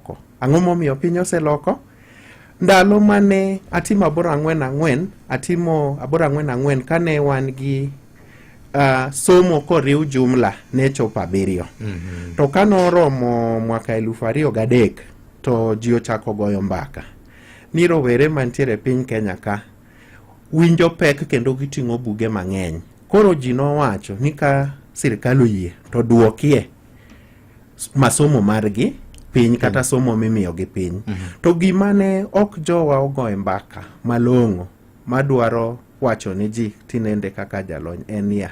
oseloko. Ang'o momiyo piny oseloko? Ndalo mane atimo aboro ang'wen ang'wen, atimo aboro ang'wen ang'wen kane wan gi uh, somo koriw jumla ne chopo abiriyo. Mm -hmm. To kane oromo mwaka elufu ariyo gadek to ji ochako goyo mbaka ni rowere mantiere piny Kenya ka winjo pek kendo giting'o buge mang'eny. Koro ji nowacho ni ka sirkal oyie to duokie masomo margi piny mm. kata somo mimiyo gi piny mm -hmm. to gima ne ok jowa ogoye mbaka malong'o madwaro wacho ni ji tinende kaka jalony en ya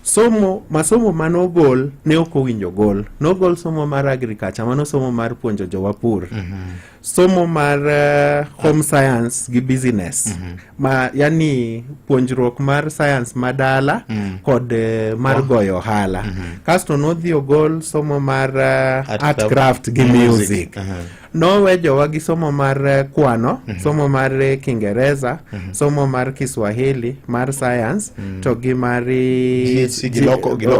somo masomo mane ogol ne ok owinjo gol nogol somo mar agriculture mano somo mar puonjo jowapur mm -hmm. somo mar uh, home science gi business mm -hmm. ma yani puonjruok mar science ma dala mm -hmm. kod uh, mar oh. goyo ohala mm -hmm. kasto nodhi ogol somo mar uh, art, art craft gi music, music. Uh -huh. nowe jowa gi somo mar uh, kwano mm -hmm. somo mar uh, kingereza mm -hmm. somo mar kiswahili mar science mm -hmm. to gi mar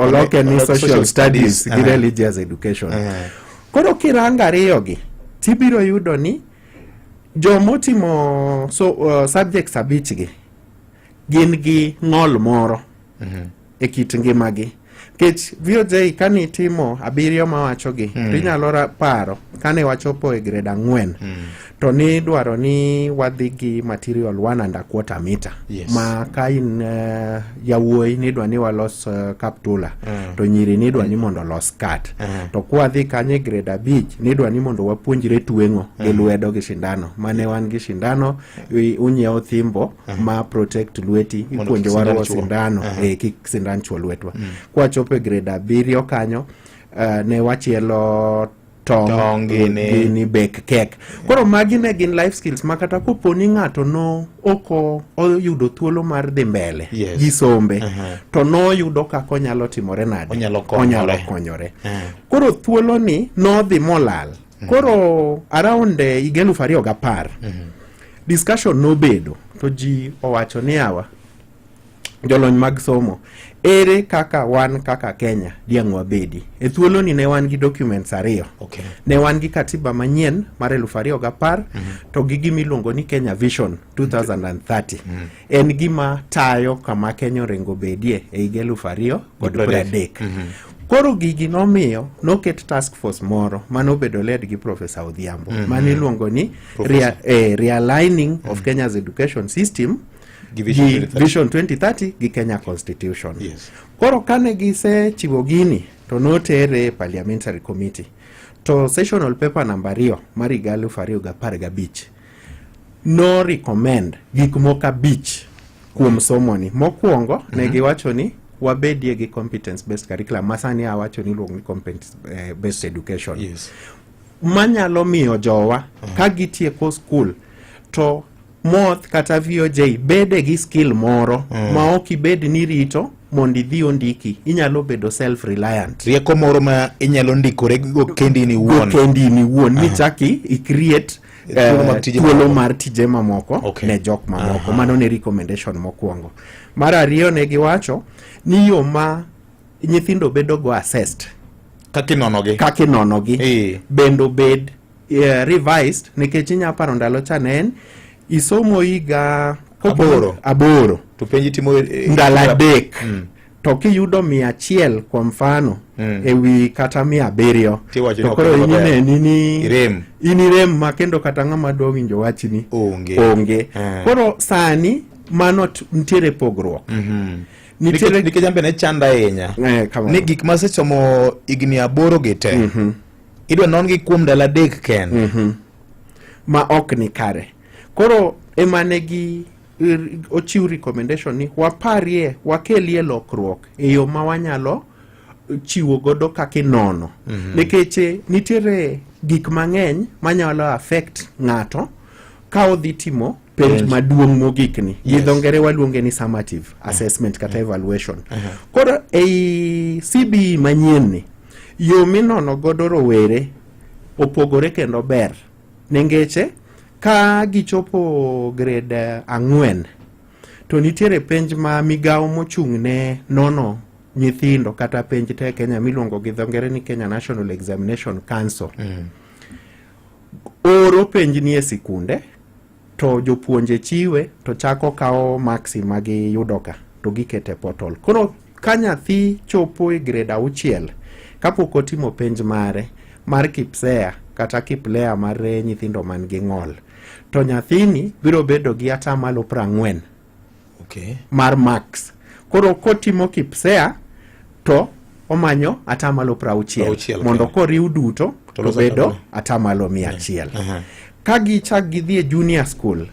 oloke ni social studies gi religious education uh -huh. Koro kirango ariyogi tibiro yudo ni jomotimo so, uh, subjects abichgi gin gi ng'ol moro mm -hmm. e kit ngimagi nikech VOJ kane itimo abiriyo mawachogi mm. to inyalo paro kane wachopo e grade ang'wen mm. to ni dwaro ni wadhi gi material one and a quarter meter yes. ma ka in uh, eh, yawuoyi nidwa ni walos uh, eh, kaptula uh. Eh. to nyiri nidwa uh. ni mondo los kat uh. Ah. to kwadhi kanye grade abich nidwa ni mondo wapuonjre tweng'o uh. Ah. gi lwedo gi shindano mane wan gi shindano uh. unyiewo thimbo uh. ma protect lweti ipuonjo waruwo sindano uh. e, kik sindan chuo lwetwa mm. kwachopo e grade abiriyo kanyo uh, ne wachielo tong gini bek kek koro magi ne gin life skills ma kata kopo ni ng'ato no oko oyudo thuolo mar dhi mbele yes. gi sombe uh -huh. to noyudo kaka onyalo timore nade onyalo konyore uh -huh. koro thuolo ni nodhi molal uh -huh. koro around eh, higa uh, elufu ariyo gapar uh -huh. discussion nobedo to ji owacho ni awa jolony mag somo ere kaka wan kaka kenya diang' wabedi e thuoloni ne wan gi documents ariyo okay. ne wan gi katiba manyien mar eluf ariyo gi apar mm -hmm. to gi gima iluongo ni kenya vision 2030 mm -hmm. en gima tayo kama kenya orengo bedie e higa eluf ariyo kod pradek mm -hmm. Koro gigi nomiyo noket task force moro mane obedo led gi Professor Odhiambo mm -hmm. mane iluongo ni rea, eh, realigning mm -hmm. of mhm. Kenya's education system gi Vision 2030 gi Kenya Constitution. Yes. Koro kane gisechiwo gini to notere e parliamentary committee to sessional paper namba ariyo mar higa aluf ariyo gapar gabich no recommend gik moko abich kuom somoni. Mokwongo mm -hmm. ne mhm. giwacho ni wabedie gi competence based curriculum ma sani awacho ni iluongo ni competence eh, based education yes. manyalo miyo jowa mm -hmm. ka gitieko school to moth kata VOJ bede gi skill moro mm. ma ok ibed ni rito mondo idhi ondiki inyalo bedo self reliant rieko moro ma inyalo ndikore go kendi ni wuon kendi ni wuon ni chaki i create eh, thuolo mar tije mamoko okay. ne jok mamoko mano ne recommendation mokwongo mar ariyo ne giwacho ni yo ma nyithindo bedo go assessed kaka inonogi kaka inonogi bende obed yeah, revised nikech inya paro ndalo cha ne en isomo higa aboro, aboro. to penji timo e, e, ndalo adek mm. to kiyudo mia achiel kwa mfano mm. ewi kata mia abiriyo to koro inineni ni inirem ma kendo kata ng'ama dwa winjo wachni onge, onge. Mm. koro sani mano ntiere pogruok mm -hmm nikech ambe ne chanda ahinya eh, ni gik masesomo higni aboro gi te mm -hmm idwa nongi kuom ndalo adek kende mm -hmm. ma ok ni kare koro emane gi er, ochiw recommendation ni waparie wakelie lokruok e yo ma wanyalo chiwo godo kaka inono mm -hmm. nikech eh, nitiere gik mang'eny manyalo affect ng'ato ka odhi timo penj yes. maduong' mogikni yes. gi dho ngere waluonge ni summative mm. assessment kata mm. evaluation uh -huh. koro ei cbe manyienni Yo minono godo rowere opogore kendo ber nengeche ka gichopo gred eh, ang'wen to nitiere penj ma migawo mochung' ne nono nyithindo kata penj te Kenya miluongo gi dho ngere ni Kenya National Examination Council mm. oro penj ni e sikunde to jopuonje chiwe to chako kawo maksi ma giyudoka to gikete portal. Koro ka nyathi chopo e grade auchiel kapok otimo penj mare mar kipsea kata kiplea mar nyithindo man gi ng'ol to nyathini biro bedo gi atamalo prang'wen okay. mar max koro kotimo kipsea to omanyo atamalo prauchiel mondo koriw duto to bedo atamalo mia achiel uh -huh. ka gichak gidhi e junior school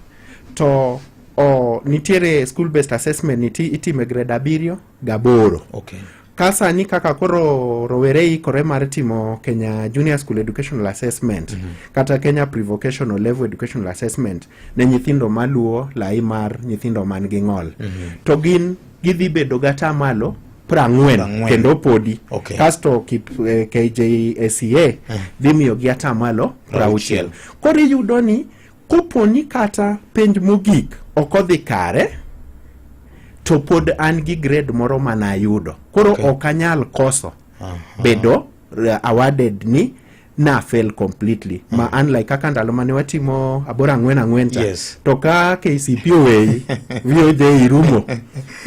to o, nitiere school based assessment niti itime grade abiriyo gaboro okay. ka sani kaka koro rowere ikore mar timo kenya junior school educational assessment mm -hmm. kata kenya prevocational level educational assessment ne nyithindo maluwo lai mar nyithindo man gi ng'ol mm -hmm. to gin gidhi bedo gata malo prang'wen kendo podi okay. kasto kip, eh, kjsca eh. dhi miyogi atamalo prauchiel koro iyudo ni Kopo ni kata penj mogik ok odhi kare, to pod an gi grade moro ma nayudo. Koro okay. ok anyal koso Aha. bedo uh, awarded ni na fail completely mm. ma unlike kaka ndalo mane watimo aboro ang'wen ang'wen cha yes. to ka KCP oweyi VOJ irumo